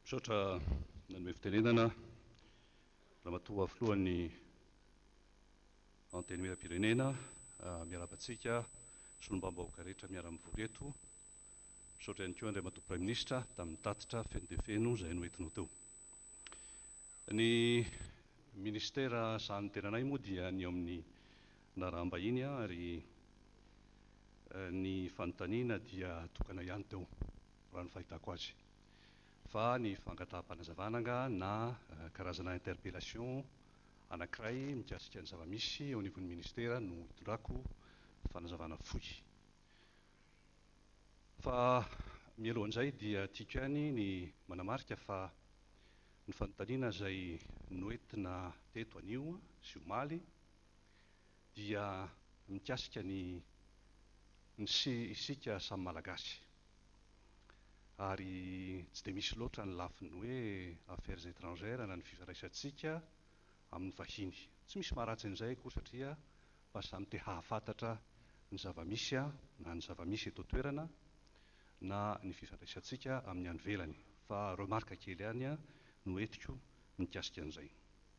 Misaotra nanome fitenenana Ramatoa Filohan'ny Antenimierampirenena, miarahaba antsika solombavambahoaka rehetra miara-mivory eto, misaotra ihany koa Andriamatoa Praiminisitra tamin'ny tatitra feno dia feno izay noentinao teo. Ny Minisitera sahanin'ny tenanay moa dia ny eo amin'ny Naraham-bahiny aho ary ny fanontaniana dia tokana ihany teo, raha ny fahitako azy, fa ny fangataham-panazavana angaha na karazana interpellation anankiray mikasika ny zava-misy eo anivon'ny Ministera no hitondrako fanazavana fohy. Fa mialohan'izay dia tiako ihany ny manamarika fa ny fanontaniana izay noentina teto anio sy omaly, dia mikasika ny ny sy isika samy Malagasy. Ary tsy dia misy loatra ny lafiny hoe affaires étrangères na ny fifandraisantsika amin'ny vahiny. Tsy misy maharatsy an'izay akory satria mba samy te hahafantatra ny zava-misy na ny zava-misy eto an-toerana na ny fifandraisantsika amin'ny any ivelany. Fa remarque kely ihany no entiko mikasika an'izay.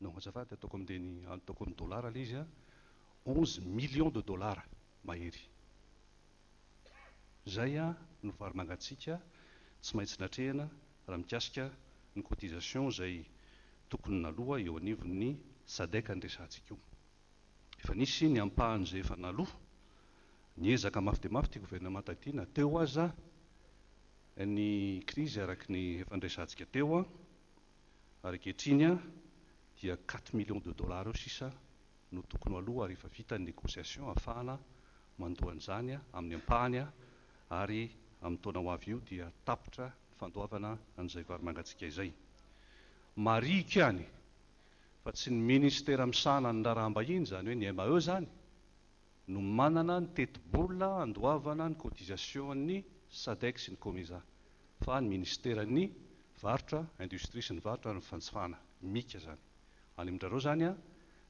Non azafady ataoko amin'ny teny ataoko amin'ny dollars ilay izy an, onze millions de dollars mahery. Izay no vary mangatsiaka tsy maintsy natrehina raha mikasika ny cotisation izay tokony naloa eo anivon'ny Sadec ny resahantsika io. Efa nisy ny ampahany izay efa naloa, niezaka mafy dia mafy ity gouvernemanta ity na teo aza ny krizy araka ny efa niresahantsika teo. ary ankehitriny dia quatre millions de dollars eo sisa no tokony ho aloa ary efa vita ny negociation hahafahana mandoa an'izany amin'ny ampahany ary amin'ny taona ho avy io dia tapitra ny fandoavana an'izay vary mangatsiaka izay. Marihiko ihany fa tsy ny Ministera misahana ny raharaham-bahiny, izany hoe ny MAE izany, no manana ny tetibola handoavana ny cotisation-n'ny Sadec sy ny Comesa fa ny Ministeran'ny Varotra, Industrie sy ny Varotra ary ny Fanjifana, Mica, izany. Any amin-drareo izany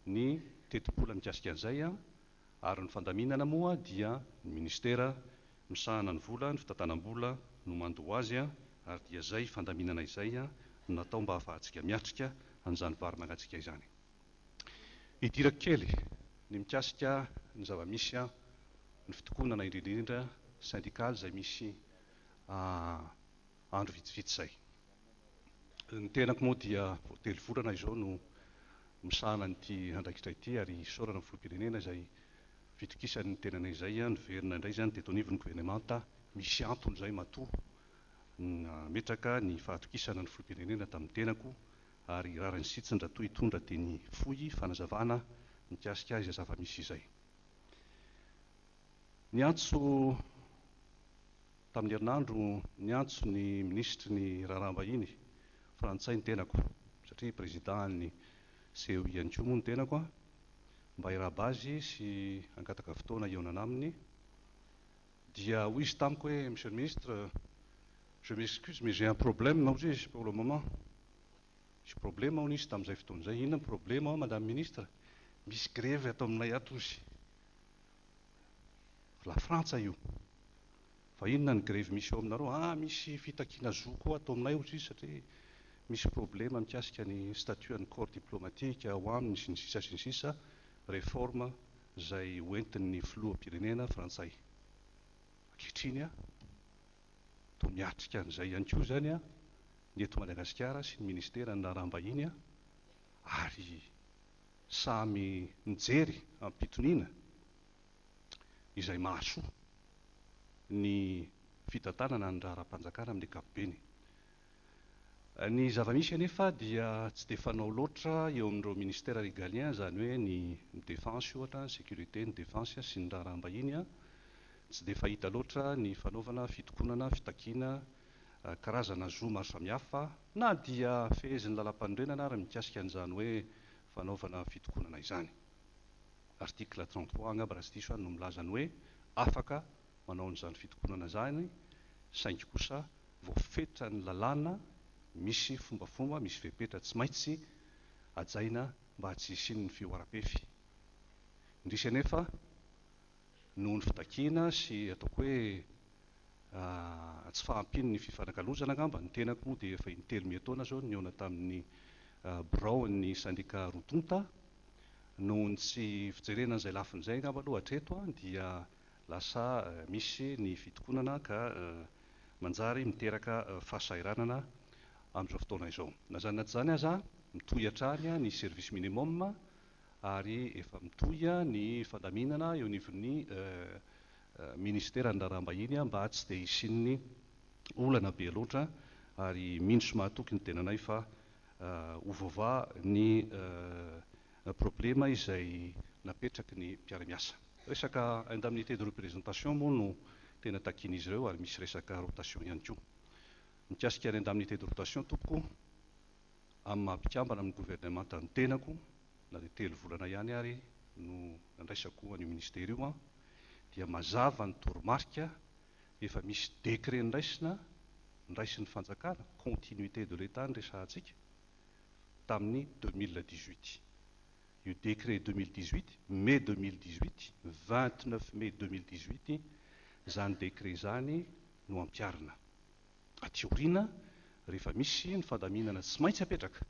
ny tetibola mikasika an'izay ary ny fandaminana moa dia ny Ministera misahana ny vola, ny fitantanam-bola no mandoa azy ary dia izay fandaminana izay no natao mba hahafahantsika miatrika an'izany varimalatsika izany. Hidirako kely ny mikasika ny zava-misy ny fitokonana indrindra indrindra syndical izay misy andro vitsivitsy izay. Ny tenako moa dia vao telo volana izao no misahana an'ity andraikitra ity ary isaorana ny Filoham-pirenena izay fitokisany ny tenany izay. Niverina indray izany teto anivon'ny Governemanta, misy antony izay matoa nametraka ny fahatokisana ny Filoham-pirenena tamin'ny tenako ary rariny sitsiny raha toa hitondra teny fohy fanazavana mikasika izay zava-misy izay. Niantso tamin'ny herinandro niantso ny minisitry ny raharaham-bahiny frantsay ny tenako, satria prezidàn'ny CEI ihany koa moa ny tenako, mba hirahaba azy sy hangataka fotoana hihaonana aminy. Dia hoy izy tamiko hoe, Monsieur le Ministre, je m'excuse mais j'ai un problème, hoy izy, pour le moment. Nisy problema hono izy tamin'izay fotoana izay. Inona ny problema hono Madame Ministre? Misy grevy ato aminay ato hozy. Lafrantsa io fa inona ny grevy misy eo aminareo ah misy fitakiana zo koa ato aminay ohatry izy satria misy problema mikasika ny statut an'ny corps diplomatique ao aminy sy ny sisa sy ny sisa reforme zay hoentin'ny filoham-pirenena frantsay ankehitriny ah toa miatrika an'izay ihany koa zany ah ny eto Madagasikara sy ny ministeran'ny raharaham-bahiny ah ary samy mijery am-pitoniana izay mahasoa ny fitantanana ny raharaham-panjakana amin'ny ankapobeny. Ny zava-misy anefa dia tsy dia fanao loatra eo amin'ireo ministères régaliens, izany hoe ny ny Défense ohatra, ny Sécurité, ny Défense sy ny Raharaham-bahiny, tsy dia fahita loatra ny fanaovana fitokonana, fitakiana karazana zo maro samihafa, Na dia fehezin'ny Lalampanorenana ary ny mikasika an'izany hoe fanaovana fitokonana izany. Article trente trois angamba raha tsy diso aho no milaza ny hoe afaka manao an'izany fitokonana izany saingy kosa voafetran'ny lalàna misy fombafomba, misy fepetra tsy maitsy hajaina mba tsy hisian'ny fihoaram-pefy. Indrisy anefa. noho ny fitakiana sy ataoko hoe tsy fahampian'ny fifanakalozana angamba, ny tenako moa dia efa in-telo miha taona izao no nihaona tamin'ny biraon'ny sendika roa tonta, noho ny tsy fijerena an'izay lafiny izay angamba aloha hatreto dia lasa misy ny fitokonana ka manjary miteraka fahasahiranana amin'izao fotoana izao. Na izany na tsy izany aza, mitohy hatrany ny service minimum ary efa mitohy ny fandaminana eo anivon'ny Ministeran'ny Raharaham-bahiny mba tsy dia hisian'ny olana be loatra ary mino sy mahatoky ny tenanay fa ho voavaha ny problema izay napetraky ny mpiara-miasa. Resaka indemnité de représentation moa no tena takian'izy ireo ary misy resaka rotation ihany koa. Mikasika ny indemnité de rotation tompoko amin'ny maha mpikambana amin'ny governemanta ny tenako, na dia telo volana ihany ary no nandraisako an'io minisitera io aho, dia mazava ny toromarika, efa misy décret noraisina, noraisin'ny fanjakana, continuité de l'Etat no resahantsika, tamin'ny deux mille dix-huit. Io décret deux mille dix-huit, mai deux mille dix-huit, vingt-neuf mai deux mille dix-huit, izany décret izany no ampiharina. aty aoriana rehefa misy ny fandaminana tsy maintsy apetraka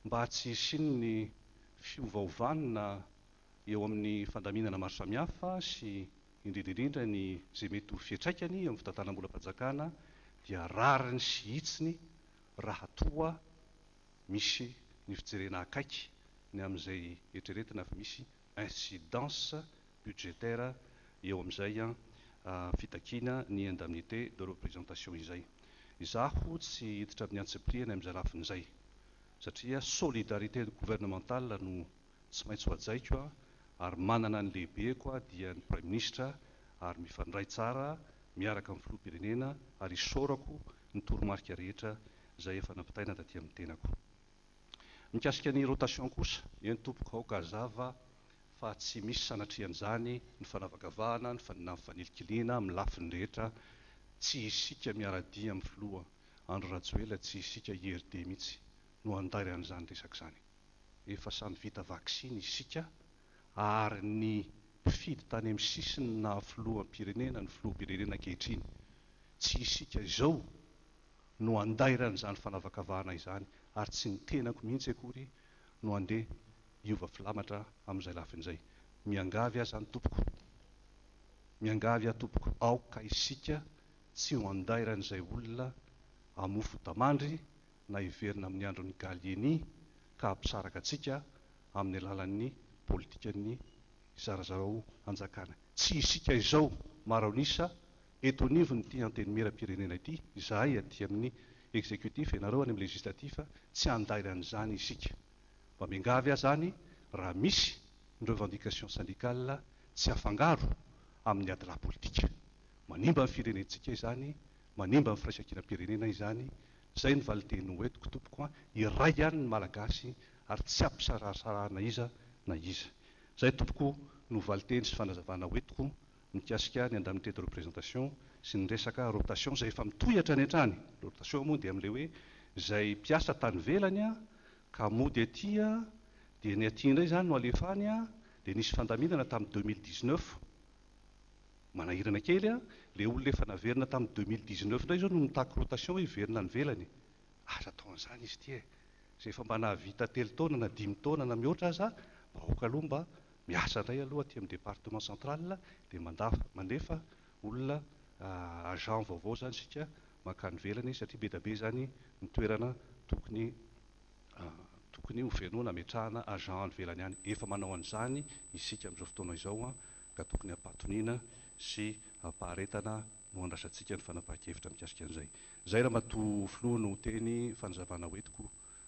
mba tsy hisian'ny fiovaovana eo amin'ny fandaminana maro samihafa sy indrindra indrindra ny izay mety ho fiantraikany eo amin'ny fitantanam-bolam-panjakana dia rariny sy hitsiny raha toa misy ny fijerena akaiky ny amin'izay eritreretina fa misy incidence budgétaire eo amin'izay fitakiana ny indemnité de représentation izay. Izaho tsy hiditra amin'ny antsipirihany amin'izay lafiny izay satria solidarité gouvernementale no tsy maintsy hohajaiko ary manana ny lehibeko aho dia ny Praiminisitra ary mifandray tsara miaraka amin'ny Filoham-pirenena ary isaorako ny toromarika rehetra izay efa nampitaina taty amin'ny tenako. Mikasika ny rotation kosa, eny tompoko aoka hazava fa tsy misy sanatrian'izany ny fanavakavahana ny fanilikilinana amin'ny lafiny rehetra, tsy isika miara-dia amin'ny filoha Andry Rajoelina, tsy isika IRD mihitsy no handaira an'izany resaka izany. Efa samy vita vaksiny isika ary ny mpifidy tany amin'ny sisiny naha filoham-pirenena ny filoham-pirenena ankehitriny, tsy isika izao no andairana izany fanavakavahana izany ary tsy ny tenako mihitsy akory no andeha hiova filamatra amin'izay lafiny izay. Miangavy aho izany tompoko. Miangavy aho tompoko aoka isika tsy ho andairan'izay olona hamofo damandry na hiverina amin'ny andron'ny Gallieni ka hampisaraka antsika amin'ny alalan'ny politikan'ny zarazarao hanjakana. Tsy isika izao maro an'isa Eto anivon'ity Antenimieram-pirenena ity, izahay aty amin'ny Executif, ianareo any amin'ny Législatif, tsy handainga an'izany isika. Mba miangavy aza any raha misy ny revendications syndicales tsy afangaro amin'ny adilahy politika. Manimba ny firenentsika izany, manimba ny firaisankinam-pirenena izany. Izay ny valinteny ho entiko tompoko an! Iray ihany ny Malagasy ary tsy ampisarahasarahana iza na iza. Izay tompoko no valinteny sy fanazavana ho entiko mikasika ny indemnité de représentation sy ny resaka rotation izay efa mitohy hatrany hatrany, le rotation moa dia amin'ilay hoe izay mpiasa tany ivelany ka mody aty dia ny aty indray izany no alefa any, dia nisy fandaminana tamin'ny deux mille dix-neuf, manahirana kely, ilay olona efa naverina tamin'ny deux mille dix-neuf indray izao no mitaky rotation hoe hiverina any ivelany, aza atao an'izany izy ity e! izay efa mba nahavita telo taona na dimy taona na mihoatra aza, vahoaka aloha mba Miasa indray aloha aty amin'ny département central dia mandafo, mandefa olona agent vaovao izany isika mankany ivelany satria be dia be izany ny toerana tokony tokony ho fenoina hametrahana agent any ivelany any. Efa manao an'izany isika amin'izao fotoana izao ka tokony hampatoniana sy hampaharetana no handraisantsika ny fanapahan-kevitra mikasika an'izay. Izay Ramatoa Filoha no teny fanazavana hoentiko